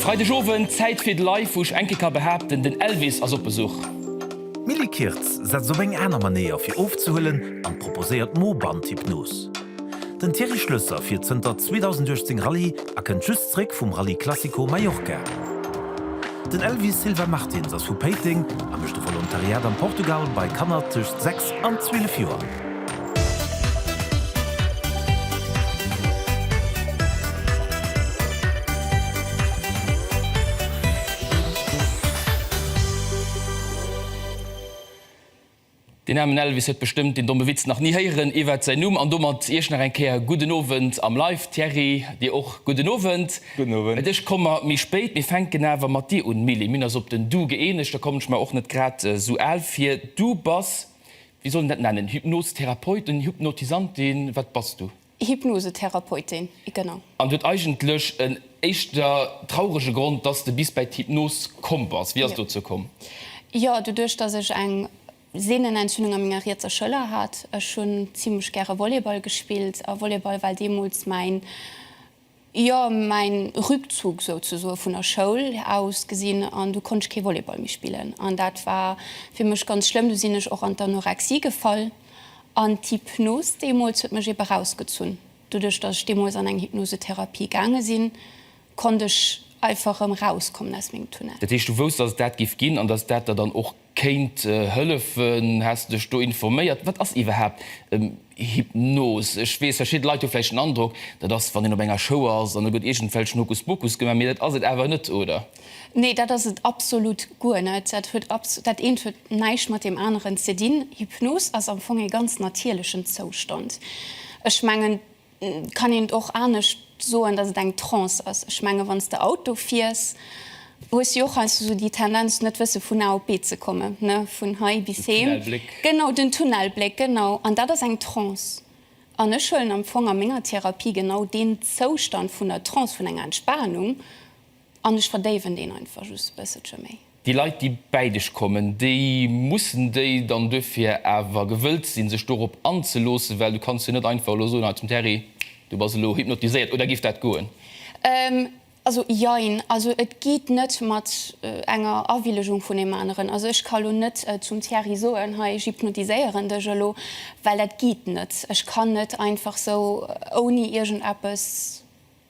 Freideg Owend, Zäit fir d'Live! Wou ech enke ka behaapten, den Elvis ass op Besuch! D'Milly Kirtz setzt op eng aner Manéier fir ofzehuelen an proposéiert d'Mo-Band-Hypnos. Den Thierry Schlösser fiert zënter 2018 Rallye a kënnt just zréck vum Rallye Classico Mallorca. Den Elvis Silva Martins ass vu Péiteng a mécht e Volontariat am Portugal bei Kanner tëscht 6 an 12 Joer. Deen aarmen Elvis huet bestëmmt deen domme Witz nach ni héieren iwwert säin Numm. An domat Iech nach eng Kéier gudden Owend am Live. Thierry, dir och gudden Owend. Gudden Owend. Et ech komme méi spéit, mee fänken awer mat dir un. Milly, mir hunn eis op den Du gëeenegt, da kommen ech mer och net grad esou al vir. Du bass Wéi soll een dat nennen? Hypnosetherapeuten, Hypnotisantin, wat bass du? Hypnosetherapeutin, genau. An huet eigentlech en éischter traurege Grond, dass de bis bäi d'Hypnos komm bass. Wéi ass et dozou komm? Jo, doduerch dass ech eng Sehnenentzündung a menger rietser Schëller hat. Ech hunn zimlech gäre Volleyball gespillt a Volleyball war deemools mäin. jo mäin Rückzug souzesoe vun der Schoul aus gesinn an du konnt ech kee Volleyball méi spillen an dat war fir mech ganz schlëmm. Du sinn ech och an d'Anorexie gefall an d'Hypnos deemools huet mech eebe rausgezunn. Doduerch dass ech deemools an eng Hypnosetherapie gaange sinn, konnt ech einfach erëm rauskommen aus mengem Tunnel. Dat heescht du wousst dass et dat giff ginn an dass dat der dann och Kéint hëllefen. Has de dech do informéiert? Wat ass iwwerhaapt Hypnos? Ech weess, verschidde Leit hu vläicht den Androck, dat ass, wann een op enger Show ass an do gëtt iergendwelchen Hokuspokus gemaach, mee dat ass et awer net, oder? Nee, dat ass et absolut guer net. Dat huet abs, dat eent huet näischt mat deem aneren ze dinn. Hypnos ass am Fong ee ganz natierlechen Zoustand. Ech mengen. Kann een et och anescht soen, dass et eng Trance ass? Ech menge wann s de Auto fiers, hues jo och heiansdo sou déi Tendenz net wësse vun A op B ze kommen, ne vun hei bis heem. Den Tunnelbléck. Genau, den Tunnelbléck, genau. An dat ass eng Trance. An ech huelen am Fong a menger Therapie genau deen Zoustand vun der Trance, vun enger Entspanung. An ech verdéiwen deen einfach just e bësselche méi. Déi Leit, déi bäi dech kommen, déi mussen déi dann duerfir awer gewëllt sinn, sech dorop anzeloossen, well du kanns jo net einfach elo soen, hei zum Terry, du bass elo hypnotiséiert. Oder géif dat goen? Also jein. Also et geet net mat enger Awillegung vun deem aneren. Also ech ka elo net zum Thierry soen, hei ech hypnotiséieren dech elo, well dat geet net. Ech kann net einfach sou ouni iergendeppes.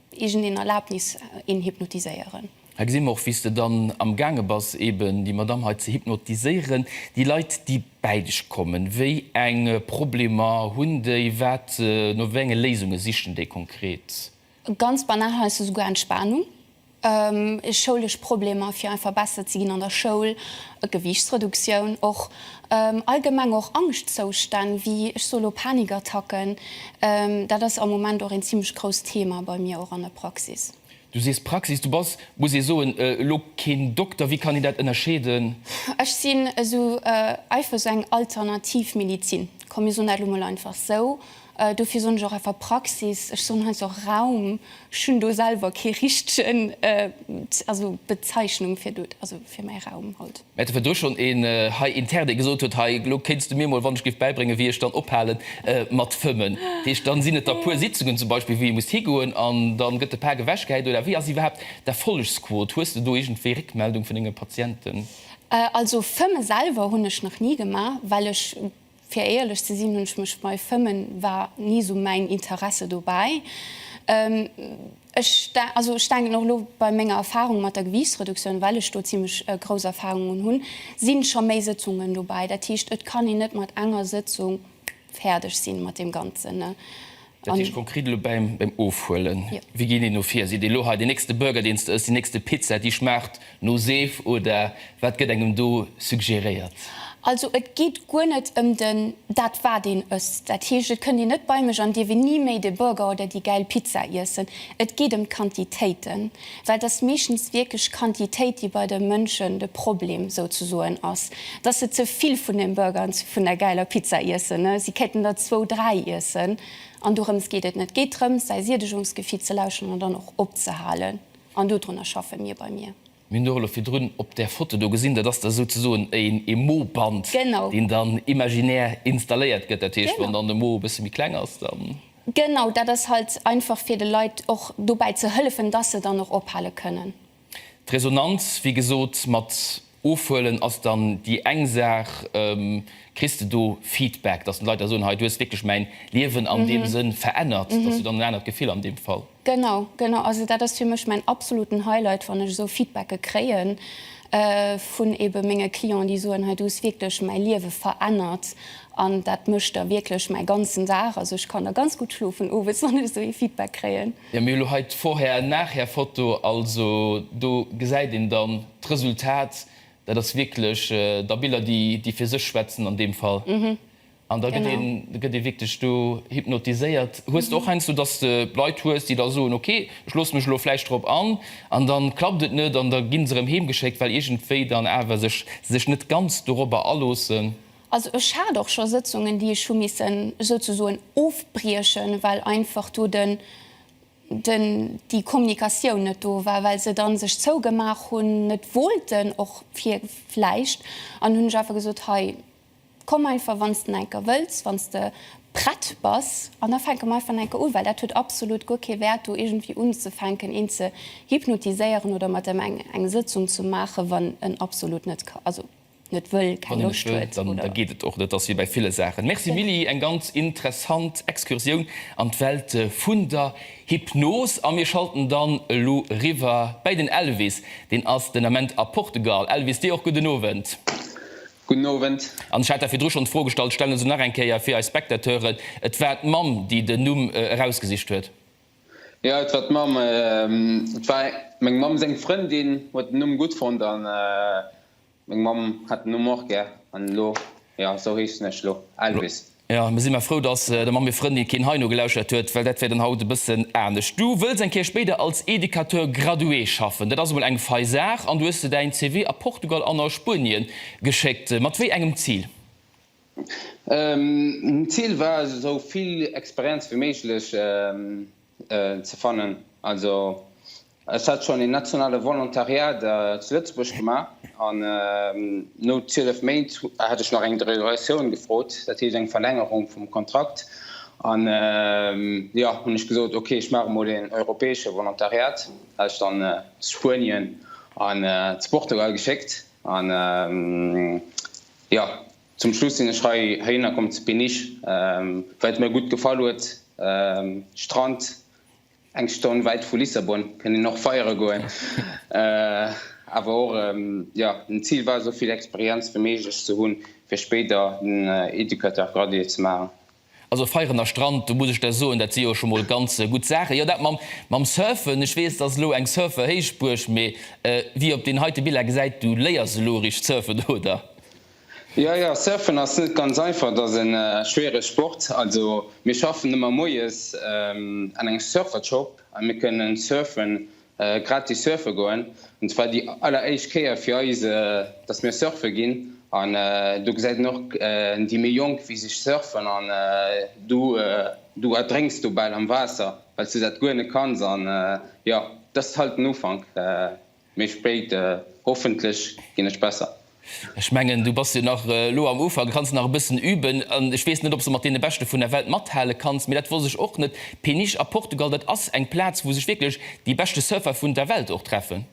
Irgend een Erlaabnis een hypnotiséieren? Hei gesi mer och wéi's de dann am gaange bass eben déi Madame hei ze hypnotiséieren. Déi Leit déi bäi dech kommen, wéi eng Problemer hunn déi? Wat, no wéi enge Léisunge sichen déi konkret? Ganz banal heiansdo esouguer Entspanung, schoulesch Problemer fir einfach besser ze ginn an der Schoul, Gewiichtsreduktioun och, Allgemeng och Angschtzoustänn, wéi ech soe lo Panikattacken, dat ass am Moment och een zimmlech grousst Thema bei mir och an der Praxis. Du sees Praxis, du bass, muss ee soen, elo keen Dokter. Wéi kann een dat ënnerscheeden? Ech sinn esou eifech esou eng alternativ Medizin, komm mir soen dat elo mol einfach esou. Dofir soen ech och einfach Praxis, ech soen heiansdo och Raum, ech hunn do selwer kee richtegen, also Bezeichnung fir mäi Raum halt. Mä et war do schonn een hei intern, dee gesot huet, Hei, elo kéints du mir mol, wann ech géif bäibréngen, wéi ech dann ophale mat fëmmen. Dat heescht, dann sinn et der puer Sitzungen zum Beispill, wou ee muss higoen an dann gëtt de Pak ewechgehäit. Oder wéi ass iwwerhaapt d'Erfollegsquot? Hues de do iergendwéi Réckmeldung vun denge Patienten? Also fëmme selwer hunn ech nach ni gemaach, well ech Fir éierlech ze sinn, hunn ech mech bei Fëmmen, war ni esou mäin Interesse dobäi. Ech, also ech denken och elo bei menger Erfahrung mat der Gewiichtsreduktioun, well ech do zimlech grouss Erfahrung un hunn, si scho méi Sëtzungen dobäi. Dat heescht, et kann een net mat enger Sëtzung fäerdeg sinn mat deem Ganzen. Dat heescht konkret elo bäim Ofhuelen, wéi geet een do vir? Seet ee elo hei, deen nächste Burger, deen s de ëss, déi nächste Pizza, déi schmaacht no Seef, oder wat gëtt engem do suggeréiert? Also et geet guer net ëm den, dat wat een ësst. Dat heescht, et kënnt een net bei mech an dierf een ni méi de Burger oder déi gäil Pizza iessen. Et geet ëm d'Quantitéiten. Well et ass meeschtens wierklech d'Quantitéit, déi bei de Mënschen de Problem souzesoen ass, dass se ze vill vun deem Burger an vun där gäiler Pizza iessen. Si kéinten der zwou, dräi iessen. An dorëms geet et net. Et geet drëms, säi Siedegungsgefi ze lauschteren an dann och opzehalen. An dodrunner schaffe mir bei mir. Mir hunn och elo virdrun op där Foto do gesinn, dat ass da souzesoen e Mo-Band, deen dann imaginär installéiert gëtt. Dat heescht, wann dann de Mo e bësse méi kleng ass, dann. Genau, dat ass halt einfach fir de Leit och dobäi ze hëllefen, dass se dann och ophale kënnen. D'Resonanz, wéi gesot, mat ofhuelen ass dann déi eng Saach. Kriss de do Feedback, dass d'Leit da soen, hei du hues wierklech mäin Liewen an deem Sënn verännert, dass du dann en anert Gefill an deem Fall? Genau, genau. Also dat ass fir mech mäin absoluten Highlight, wann ech esou Feedbacke kréien vun ebe menge Clienten, déi soen, hei du hues wierklech mäi Liewe verännert an dat mécht da wierklech mäi ganzen Dag. Also ech kann da ganz gutt schlofen owes, wann ech esou ee Feedback kréien. Jo, mir hu lo hei d'Vorher an Nachher Foto, also do gesäit een dann d'Resultat. Dat ass wierklech da Biller, déi fir sech schwätzen an deem Fall. An da gëtt ee wierklech do hypnotiséiert. Hues de och heiansdo, datt s de Leit hues, déi da soen, ok, ech loosse mech elo vläicht drop an, an da klappt et net an da gi se erëm heemgeschéckt, well iergendwéi dann awer se sech net ganz dorobber aloossen? Also ech hat och scho Sëtzungen, déi ech hu missen souzesoen ofbriechen, well einfach do den, den, déi Kommunikatioun net do war, well se da sech zougemaach hunn, net wollten och vläicht, an hunn ech einfach gesot, hei, Komm einfach wann s de enker wëlls, wann s de prett bass an da fänke mer einfach enker u, well dat huet absolut guer kee Wäert do iergendwéi unzefänken een ze hypnotiséieren oder mat em eng eng Sëtzung ze maachen, wann en absolut net ka also net wëll, keng Loscht huet oder. Wann en net wëll, dann geet et och net. Dat ass wéi bei ville Saachen. Merci Milly, eng ganz interessant Excursioun an d'Welt vun der Hypnos a mir schalten dann elo eriwwer bäi den Elvis, deen ass den Ament a Portugal. Elvis, dir och gudden Owend. Gudden Owend. An ech hat der virdru schonn d'Fro gestallt, stellen se nach eng Kéier fir eis Spectateuren, Et war d'Mamm, déi den Numm erausgesicht huet. Jo, et war d'Mamm. Et war meng Mamm seng Frëndin, huet den Numm gutt fonnt a meng Mamm hat den Numm och gär. An elo, jo, esou heeschen ech elo, Elvis. Jo, mir si mar frou, dass der Mamm hir Frëndin keen heino gelauschert huet, well dat wär dann haut e bëssen anescht. Du wëlls eng Kéier spéider als Educateur gradué schaffen, dat ass emol eng fei Saach, an du hues de däin CV a Portugal an a Spuenien geschéckt. Mat wéi engem Zil? D'Zil war, esou vill Experienz wéi méiglech ze fannen. Also ech hat schonn een nationale Volontariat zu Lëtzebuerg gemaach an no 12 Méint hat ech nach eng Derogatioun gefrot, dat heescht eng Verlängerung vum Kontrakt an jo hunn ech gesot ok ech maache mol een europäesche Volontariat, hat ech dann zu Spuenien an zu Portugal geschéckt an jo. Zum Schluss sinn ech hei heihinner komm zu Péniche, well et mir gutt gefall huet, Strand, eng Stonn wäit vu Lissabon, kënnt een och feiere goen, awer och, jo, den Zil war esou vill Experienz wéi méiglech ze hunn, fir spéider den Educateur gradué ze maachen. Also feieren a Strand, do muss ech der soen, dat si jo scho mol ganz gutt Saachen. Jo, dat mam Surfen, ech weess, et ass elo eng Surfer-Héichbuerg, mee wéi ee op deenen heite Biller gesäit, du léiers elo eréischt surfen, oder? Jo, jo, surfen ass net ganz einfach, et ass e schwierege Sport. Also mir schaffen ëmmer moies an engem Surfershop a mir kënnen surfen, gratis surfe goen an zwar déi alleréischt Kéier fir eis dass mir surfe ginn an do gesäit een och déi méi Jonk wéi se surfen an du du erdrénks do bal am Waasser well s du dat guer net kanns an jo dass halt den Ufank méi spéit hoffentlech ginn ech besser. Ech mengen, du bass jo nach elo am Ufank, du kanns nach e bëssen üben. An ech weess net, ob s de mat deene Beschte vun der Welt mathale kanns, mee dat wosst ech och net. Peniche a Portugal, dat ass eng Plaz, wou sech wierklech déi beschte Surfer vun der Welt och treffen.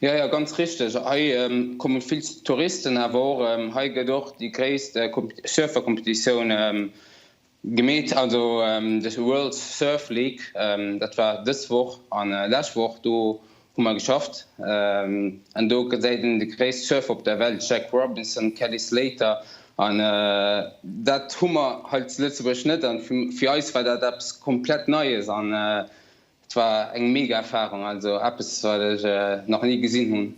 Jo, jo, ganz richteg. Hei komme vill Touristen, awer och hei gëtt och déi gréisst Surfercompetitioun Gemeet ass do dës World Surf League. Dat war dës Woch an lescht Woch. Do hu mer geschafft an do gesäit een de gréisst Surfer op der Welt, Jack Robinson, Kelly Slater, an dat hu mer hei zu Lëtzebuerg net. An fir eis war dat eppes komplett Neies. Et war eng mega Erfahrung, also eppes wat ech nach ni gesinn hun.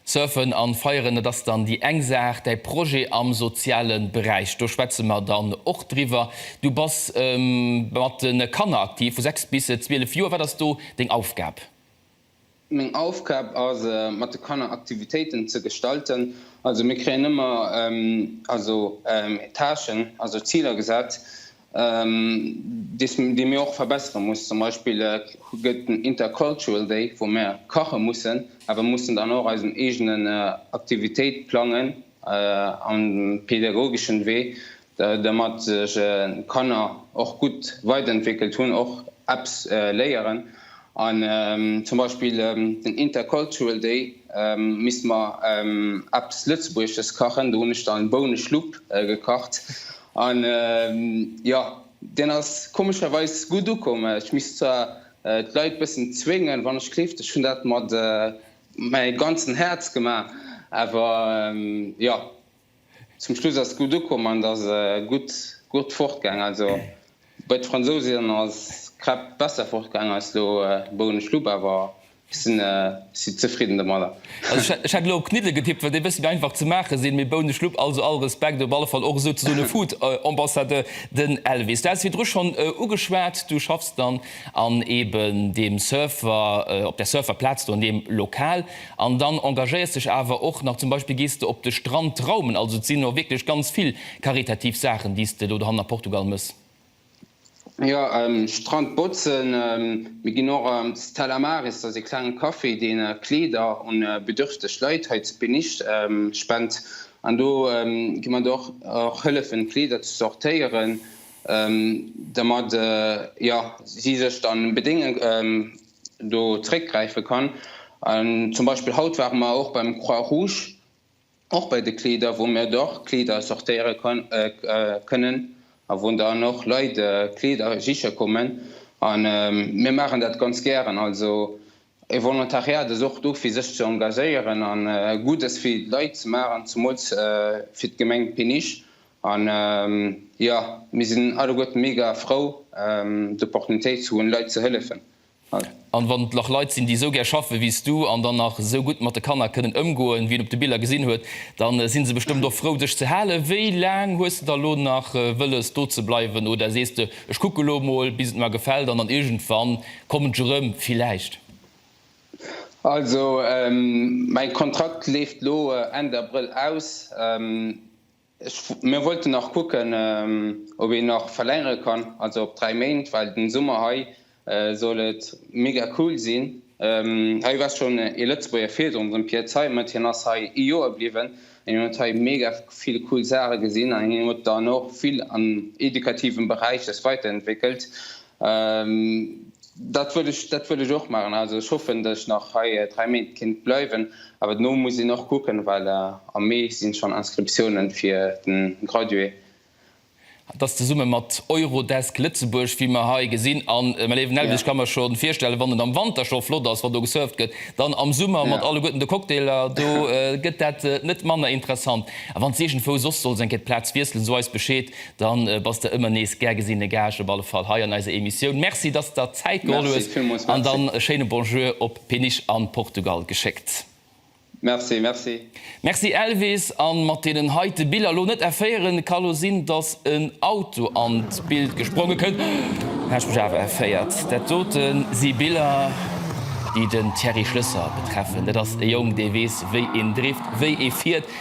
Surfen an feieren, dat ass dann déi eng Saach. Däi Projet am sozialen Beräich, do schwätzen mer dann och driwwer. Du bass mat den Kanner aktiv vu 6 bis 12 Joer. Wat ass do deng Aufgab? Meng Aufgab ass mat de Kanner Aktivitéiten ze gestalten. Also mir kréien ëmmer also Tâchen, also Ziler gesat, déi mir och verbessere mussen. Zum Beispill gëtt den Intercultural Day, wou mir kache mussen, a mir mussen dann och eisen eegenen Aktivitéit plangen am pädagogeschen Wee, Dermat sech Kanner och gutt weiderentwéckelt hunn, och eppes léieren. An zum Beispill den Intercultural Day misste mer eppes Lëtzebuergesches kachen. Do hunn ech dann Bouneschlupp gekacht. An jo, deen ass komescherweis gutt ukomm. Ech misst zwar d'Leit e bëssen zwéngen, wann ech gleeft. Ech hunn dat mat mengem ganzen Häerz gemaach. Awer jo. Zum Schluss ass gutt ukomm an et ass gutt gutt fortgaang. Also bei de Fransousinn ass d'Crêpe besser fortgaang als lo bou en ech lupp awer ech sinn si zefridden domadder. Also ech hätt elo op Kniddele getippt well déi e bëssi méi einfach ze maache sinn, mee bou en ech lupp, also all Respekt, op alle Fall och esouzesoen e Food Ambassadeur, den Elvis. Du haas et virdru schonn ugeschwat, du schaffs dann an eben deem Surfer, op der Surfer Plaz do an deem Lokal. An dann engagéiers dech awer och nach, zum Beispill gees de op de Strand traumen. Also et sinn och wierklech ganz vill karitativ Saachen, déi s de do dohannert a Portugal mëss. Jo, Strand botzen. Mir ginn och op Stella Maris, dat ass ee klengen Café, deen Kleeder un bedürfteg Leit hei zu Peniche spent. An do gi mer och hëllefen Kleeder ze sortéieren, dermat si sech dann bedéngen. do zréckgräife kann. An zum Beispill haut ware mer och beim Croix Rouge, och bei de Kleeder, wou mir dach Kleeder sortéiere kënnen a wou dann och Leit Kleeder siche kommen. A mir maachen dat ganz gären. Also e Volontariat ass och do, fir sech ze engagéieren a Guddes fir d'Leit ze maachen, zemools fir d'Gemeng Péniche. An jo, mir sinn alleguerten mega frou d'Opportunitéit ze hunn Leit ze hëllefen. An wann et nach Leit sinn déi esou gär schaffen wéi s du an dann nach esou gutt mat de Kanner kënnen ëmgoen wéi een op de Biller gesinn huet, dann sinn se bestëmmt och frou dech ze halen. Wéi laang hues de da lo nach wëlles do ze bleiwen oder sees de ech kucke lo mol bis et mer gefält an dann iergendwann kommen ech erëm villäicht? Also mäin Kontrakt leeft lo Enn Abrëll aus. Mir wollten nach kucken, ob een nach verlängere kann, also op dräi Méint, well den Summer hei soll et mega cool sinn. Hei war schonn ee Lëtzebuerger virdrun, den Pierre Zeimet, hien ass hei ee Joer bliwwen an hien huet hei mega vill cool Saache gesinn an hien huet dann och vill am edukativen Beräich sech weiterentwéckelt. Dat wëll ech, dat wëll ech och maachen. Also ech hoffen, datt ech nach hei dräi Méint kéint bleiwen. Awer dono muss een och kucken, well am Mee si schonn Inscriptiounen fir de Gradué. Dat ass zesumme mat Eurodesk Lëtzebuerg, wéi mer hei gesinn. A mä léiwen Elvis, ech ka mer scho virstellen, wann et am Wanter scho flott ass, wann do gesurft gëtt, dann am Summer mat alleguerten de Cocktailer do gëtt dat net manner interessant. A wann s de iergendwou soss solls eng Kéier d'Plaz wiesselen, so eis Bescheed. Dann bass de ëmmer nees gär gesinne Gaascht, op alle Fall hei an eiser Emissioun. Merci, dass der Zäit geholl hues an dann e schéine Bonjour op Peniche an Portugal geschéckt. Merci, merci. Merci Elvis, an mat deenen heite Biller lo net erféieren, ka lo sinn dass en Auto an d'Bild gespronge kënnt, häsch mech awer erféiert. Dat doten si Biller déi den Thierry Schlësser betreffen, dat ass e Jong dee weess wéi een drift, wéi ee fiert.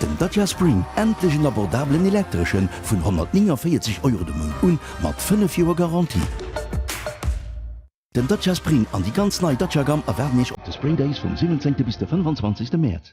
Den Dacia Spring, endlech en abordabelen Elektreschen, vun 149 Euro de Mount un, mat 5 Joer Garantie. Den Dacia Spring an déi ganz nei Dacia Gamme erwaarden Iech op de Spring Days vum 17 bis de 25 Mäerz.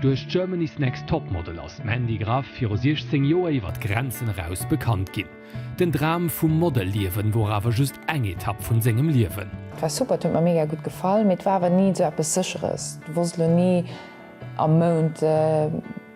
Duerch Germany's Next Topmodel ass d'Mandy Graff viru 16 Joer iwwer d'Grenzen eraus bekannt ginn. Den Dram vum Model-Liewen wor awer just eng Etapp vun sengem Liewen. War super, et huet mer mega gutt gefall, mee et war awer ni sou eppes Sécheres. Du wosst elo ni am Mount.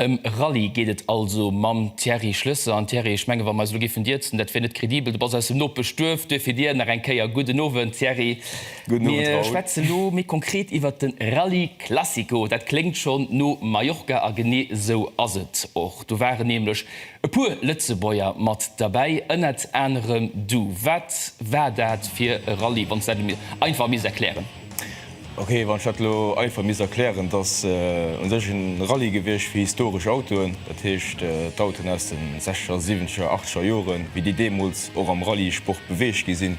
Ëm e Rallye geet et also mam Thierry Schlesser. An Thierry, ech menge wa mer eis elo géifen dierzen, dat wier net credibel, du bass aus dem Nopeschduerf, duerfir dir nach eng Kéier gudden Owend Thierry. Mir schwätzen elo méi konkret iwwert de Rallye Classico. Dat kléngt schonn no Mallorca a genee esou ass et och. Do waren nämlech e puer Lëtzebuerger mat derbäi, ënnert anerem du. Wat war dat fir e Rallye, wann s du dat mir einfach misst erklären? Ok, wann ech dat elo einfach misst erklären, et ass u sech e Rallye gewiescht fir historesch Autoen, dat heescht d'Autoen aus de sechzeger, siwenzeger, achteger Joren, wéi déi deemools och am Rallyesport beweegt gi sinn.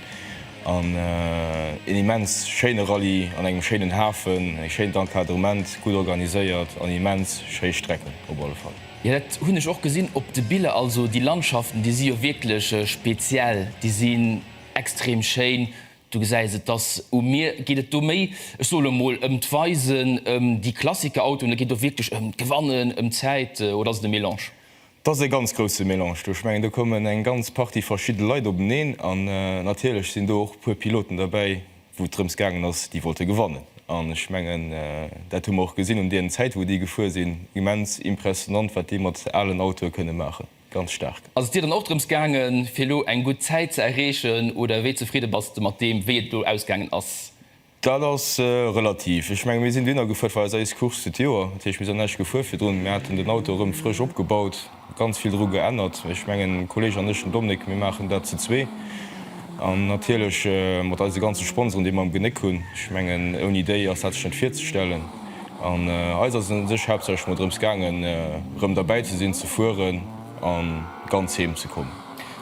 An een immens schéine Rallye an engem schéinen Hafen, e schéint Encadrement, gutt organiséiert an immens schéi Strecken op alle Fall. Jo, dat hunn ech och gesinn op de Biller. Also déi Landschaften, déi si jo wierklech speziell, déi sinn extrem schéin, Du gesäis et, dass u mir geet et do méi, ech soe lo mol, ëm d'Weisen, ëm déi Klassikerautoen, et geet do wierklech ëm d'Gewannen, ëm d'Zäit, oder ass et e Mélange? Et ass e ganz grousse Mélange do. Ech mengen, do kommen eng ganz Partie verschidde Leit openeen an natierlech sinn do och e puer Piloten derbäi, wou et drëms gaangen ass, déi wollte gewannen. An ech mengen, dat hu mer och gesinn un deenen Zäite wou déi gefuer sinn, immens impressionnant, wat déi mat alen Autoe kënne maachen. Ganz staark. Ass et dir dann och drëms gaangen, fir elo eng gutt Zäit ze erreechen oder wéi zefridde bass de mat deem, wéi et elo ausgaangen ass? Dat ass relativ. Ech menge mir sinn dohinner gefuer, et war eis éischt Course fir d'Joer, dat heescht mir sinn näischt gefuer virdrun. Mir haten den Auto erëm frësch opgebaut, ganz vill dru geännert. Ech mengen de Kolleg an ech, den Dominik, mir maachen dat ze zwee an natierlech mat eise ganze Sponsoren, déi mer am Genéck hunn. Ech mengen ouni déi ass dat sech net virzestellen. An eis ass et un sech haaptsächlech mol drëms gaangen, erëm derbäi ze sinn, ze fueren a ganz heem ze kommen.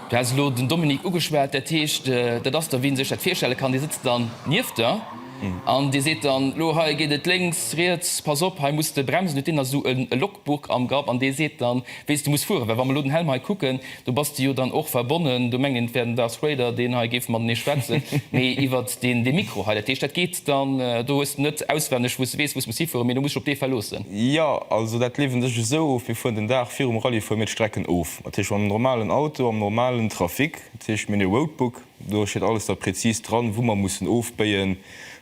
Du has elo den Dominique ugeschwat, dat heescht, dat ass der, wéi een sech dat virstelle kann. Dee sëtzt dann nieft der an dee seet dann, Elo hei geet et lénks, riets, pass op, hei muss de bremsen. Huet deen da esou e Logbuch am Grapp an dee seet dann, wéi s de muss fueren? Well wa mer elo den Helm hei kucken, Do bass de jo dann och verbonnen, do mengen ech, wär den Darth Vader, deen hei géif matenee schwätzen, mee iwwert dee Mikro hei. Dat heescht, dat geet dann, do hues de net auswenneg, wou s de weess, wou s muss hifueren, mee do muss sech op dee verloossen. Jo, also dat leeft un sech esou of, mir fueren den Dag virum Rallye fuere mir d'Strecken of, dat heescht mam normalen Auto, am normalen Trafic, dat heescht mir hunn e Roadbook, do steet alles da prezis dran, wou mer mussen ofbéien,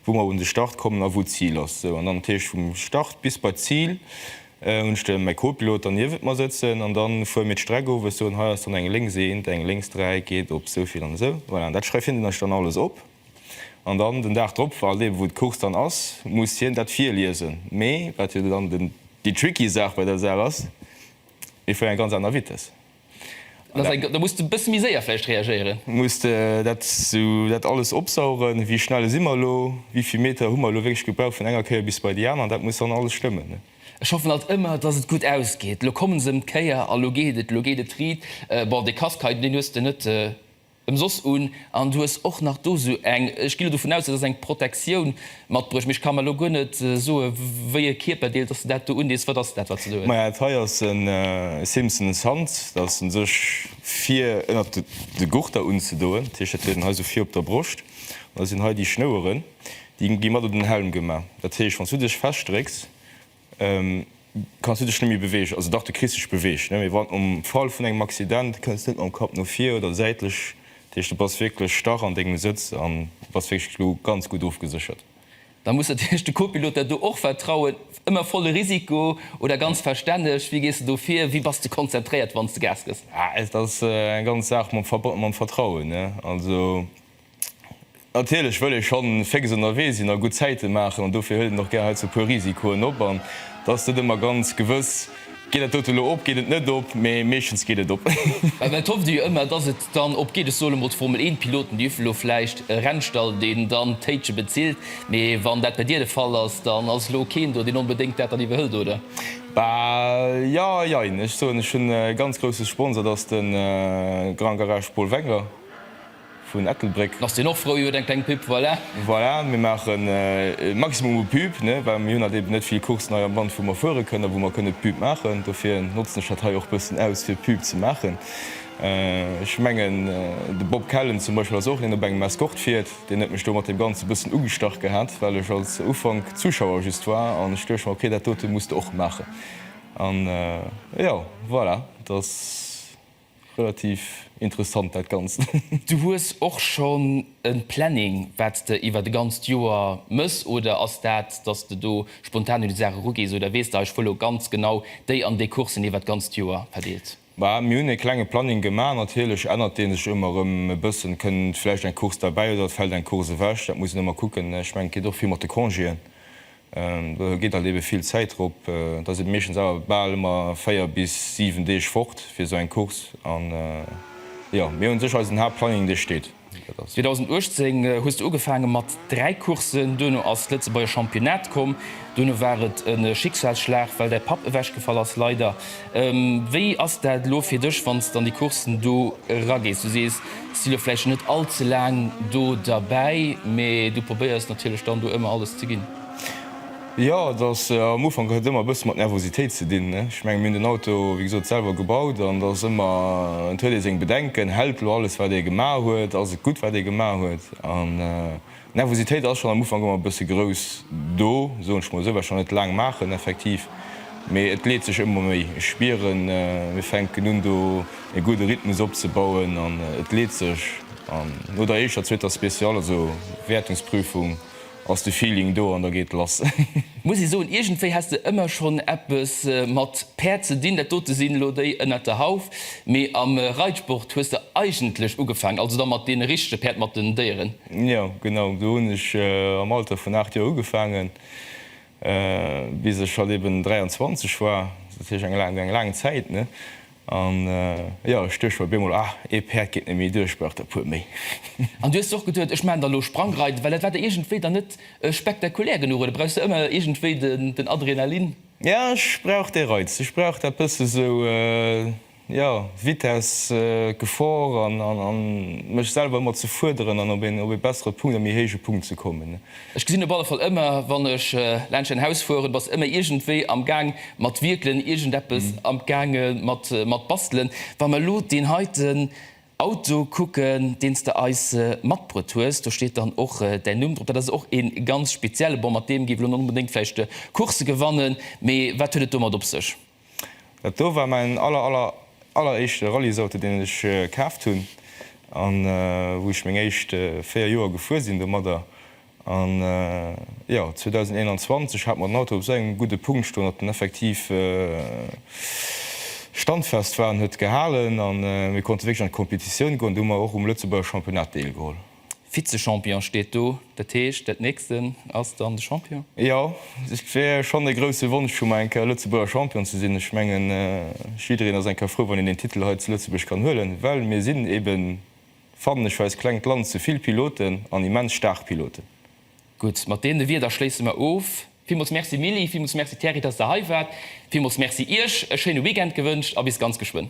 wou mer un de Start kommen a wou d'Zil ass. Sou, an dann, dat heescht vum Start bis bei d'Zil, Hun ech de mäi Copilot dann niewent mer sëtzen an dann fueren mir d'Streck of. Ech soen, hei ass dann eng lénks eent, eng lénks dräi geet op souvill an esou. Voilà, an dat schreift hien dann ech dann alles op an dann den Dag drop, halt eben wou d'Course dann ass, muss hien dat virliesen. Mee wat jo dann den déi tricky Saach bei der Saach ass, mir fueren eng ganz aner Vitess. Da muss de e bësse méi séier vläicht reagéieren. Muss de dat esou, dat alles opsaugen? Wéi schnell si mer elo? Wéi vill Meter hu mer elo wierklech gebraucht vun enger Kéier bis bei déi aner? Dat muss dann alles stëmmen. Ech hoffen alt ëmmer, dass et gutt ausgeet. Elo kommen se ëm d'Kéier a lo geet et, elo geet et riit. Bon, dee Casque hei, deen hues de net. Emsoss un, an du hues och nach do sou eng, ech ginn lo dovun aus, et ass eng Protektioun, matbruecht, mee ech ka mer lo guer net soe wéi e Kierperdeel, dass de dat do undees. Wat ass dat, wat se do huet? Maja, dat hei ass e Simpson, e Sand, dat ass en sech vir ënnert de Gurter unzedoen, dat heescht, dat huet en hei sou vir op der Broscht, an da sinn hei déi Schnoueren, déi gi mat op den Helm gemaach, dat heescht, wann s du dech festdrécks, Kanns du dech net méi beweegen? Also dach, du kriss dech beweegt, mee wann am Fall vun engem Accident kënns net mam Kapp no vir oder säitlech, dat heescht du bass wierklech starr an dengem Sëtz an bass wierklech elo ganz gutt ofgeséchert. Da muss natierlech de Copilot der do och vertrauen. Ëmmer volle Risiko oder ganz verstänneg? Wéi gees de do vir? Wéi bass de konzentréiert, wann s de Gas gëss? Dat ass eng ganz Saach mam Vertrauen. Also Natierlech wëll ee schonn féx ënnerwee sinn a gutt Zäite maachen an dofir huet een och gär heiansdo e puer Risikoen op an et ass net ëmmer ganz gewëss, geet dat dote lo op, geet et net op, mee meeschtens geet et op. Mä et hofft ee jo ëmmer, dass et dann op geet. Ech soe lo mol, d'Formel-Eent-Piloten, déi uffe lo vläicht e Rennstall, deen dann d'Téitche bezilt, mee wann dat bei dir de Fall ass, dann ass lo keen do, deen onbedéngt dat dann iwwerhëlt, oder? Bah, jo a jein. Ech soen, ech hunn e ganz grousse Sponsor, dat ass de Grand Garage Paul Wenger. vun Ettelbréck. Ass deen och frou, huet eng kleng Pub, voilà. Voilà, mir maachen e Maximum u Pub, ne, well mir hunn halt eben net vill Courssen hei am Land, wou mer fuere kënnen, wou mer kënne Pub maachen. Dofir notzen ech dat hei och e bëssen aus, fir Pub ze maachen. Ech mengen, de Bob Kellen zum Beispill ass och een, deen op engem Escort fiert. Deen huet mech do mat deem Ganze e bëssen ugestach gehat, well ech als Ufank Zuschauer just war an ech duecht mer, ok, dat dote muss de och maachen. An jo, voilà, et ass. Relativ interessant dat ganzt. Du hues och schon en Planning wats de iwwert e ganzt Joer mëss oder ass dat dass de do spontan un déi Saach eru gees oder wees de ech wëll lo ganz genau déi an déi Coursen iwwert d'ganzt Joer verdeelt? Bah mir hunn e klenge Planning gemaach, natierlech ännert deen sech ëmmer erëm e bëssen, kënnt vläicht eng Course derbäi oder et fällt eng Course ewech, dat muss een ëmmer kucken. Ech mengen et geet och vill mat de Congéen, Do geet alt ebe vill Zäit drop. Da si meeschtens awer bal ëmmer 4 bis 7 Deeg fort fir esou eng Course. An jo, mir hunn u sech eisen Haaptplanning, dee steet. 2018 hues de ugefaange mat 3 Courssen, duerno ass d'Lëtzebuerger Championnat komm, duerno war et e Schicksalsschlag, well däi Papp ewechgefall ass, leider. Wéi ass dat elo fir dech, wann s de an déi Courssen do eragees? Du sees, s si elo vläicht scho net all ze laang do derbäi, mee du probéiers natierlech dann do ëmmer alles ze ginn. Jo, et ass am Ufank, huet ëmmer e bësse mat Nervositéit ze dinn. Ech mengen, mir hunn den Auto, wéi gesot, selwer gebaut an et ass ëmmer, et huet ee seng Bedenken, hält elo alles, wat ee gemaach huet? Ass et gutt, wat ee gemaach huet? D'Nervositéit ass schonn am Ufank ëmmer e bësse grouss do, soen ech mol esou, well ech nach net laang maachen effektiv, mee et leet sech ëmmer méi. Ech spieren, mir fänken un do e gudde Rhythmus opzebauen an et leet sech. An no der éischter, zweeter Spéciale, also Wäertungsprüfung, ass de Feeling do an da geet lass. Muss ee soen, iergendwéi häss de ëmmer schonn eppes mat Päerd ze dinn. Dat dote sinn elo déi ënnert der Hauf, mee am Reitsport hues de eigentlech ugefaangen, also da mat deene richtege Päerd, mat den Déieren. Jo, genau. Do hunn ech am Alter vun 8 Joer ugefaangen, bis ech halt eben 23 war. Dat heescht eng laang, eng laang Zäit, ne? An, jo, ech duecht mer op eemol, Ah, ee Päerd geet net méi duer, ech brauch der puer méi. An du hues och geduecht, Ech maachen der elo Sprangreiten, well dat war der iergendwéi dann net spektakulär genuch, oder brauchs der ëmmer iergendwéi den Adrenalin? Jo, ech brauch dee Reiz. Ech brauch dat bësse sou, jo, Vitess, Gefor an mech selwer ëmmer ze fuerderen an op ee bessere Punkt, e méi héije Punkt ze kommen. Ech gesinn op alle Fall ëmmer, wann ech laanscht däin Haus fueren, bass ëmmer iergendwéi am Gaang mat wierkelen, iergendeppes am Gaange mat bastelen. Wa mer elo deen heiten Auto kucken, deen s de eis matbruet hues, do steet dann och däin Numm drop. Dat ass och ee ganz spezielle. Bon, mat deem géif elo net onbedéngt vläicht Coursse gewannen, mee wat huet et domat op sech? Dat do war mäin aller aller alleréischte Rallysauto deen ech kaaft hunn an wou ech meng éischt 4 Joer gefuer sinn domadder an jo 2021 hat mer den Auto op esou engem gudde Punkt stoen datt en effektiv standfest war an huet gehalen an mir konnte wierklech an d'Kompetitioun goen. Do hu mer och um Lëtzebuerger Championnat deelgeholl. Vize-Champion steet do, dat heescht dat nächsten ass dann de Champion? Jo, et wier schonn e grousse Wonsch vu mer eng Kéier Lëtzebuerger Champion ze sinn. Ech mengen jiddereen ass eng Kéier frou wann een deen Titel hei zu Lëtzebuerg kann huelen, well mir sinn eben, fannen ech, fir eist klengt Land zu vill Piloten an immens staark Piloten. Gutt, mat deene Wierder schléisse mer of. Villmools Merci Mili, villmools Merci Thierry, dass der hei waart, villmools Merci Iech, e schéine Weekend gewënscht a bis ganz geschwënn.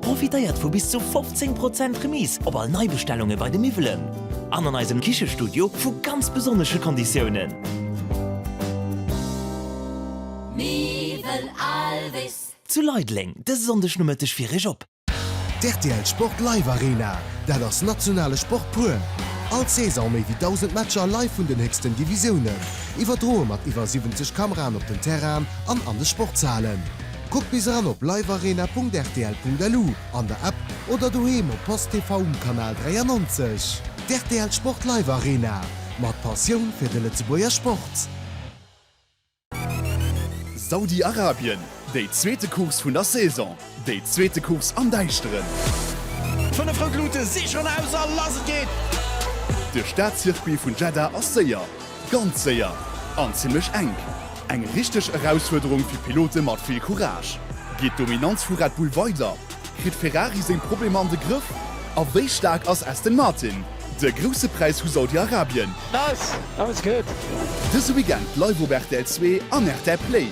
Profitéiert vu bis zu 15 Prozent Remise op all Neibestellunge bei de Miwwelen an an eisem Kichestudio vu ganz besonnesche Konditiounen. Miwwel Alvis. Zu Leideleng dëse Sonndeg Nomëtteg fir Iech op. D'RTL Sport Live Arena, dat ass nationale Sport pur. All Saison méi wéi 1.000 Matcher live vun den héchsten Divisiounen, iwwerdroe mat iwwer 70 Kameraen op den Terrainen an an de Sportshalen. Kuckt bis eran op livearena.rtl.lu, an der App oder doheem op post TV um Kanal 93. D'RTL Sport Live Arena, mat Passioun fir de Lëtzebuerger Sport. Saudi-Arabien, déi zweete Course vun der Saison, déi zweete Course am Däischteren. D'fënnef rout Luute si schonn aus a lass et geet! De Staatcircuit vun Jeddah ass séier. Ganz séier an zimlech enk. Eng richteg Erausfuerderung fir Pilote mat vill Courage. Geet d'Dominanz vu Red Bull weider? Kritt Ferrari seng Problemer an de Grëff? A wéi staark ass Aston Martin? De grousse Präis vu Saudi-Arabien. Nice! That was good! Dëse Weekend live op rtl Zwee an rtl Play.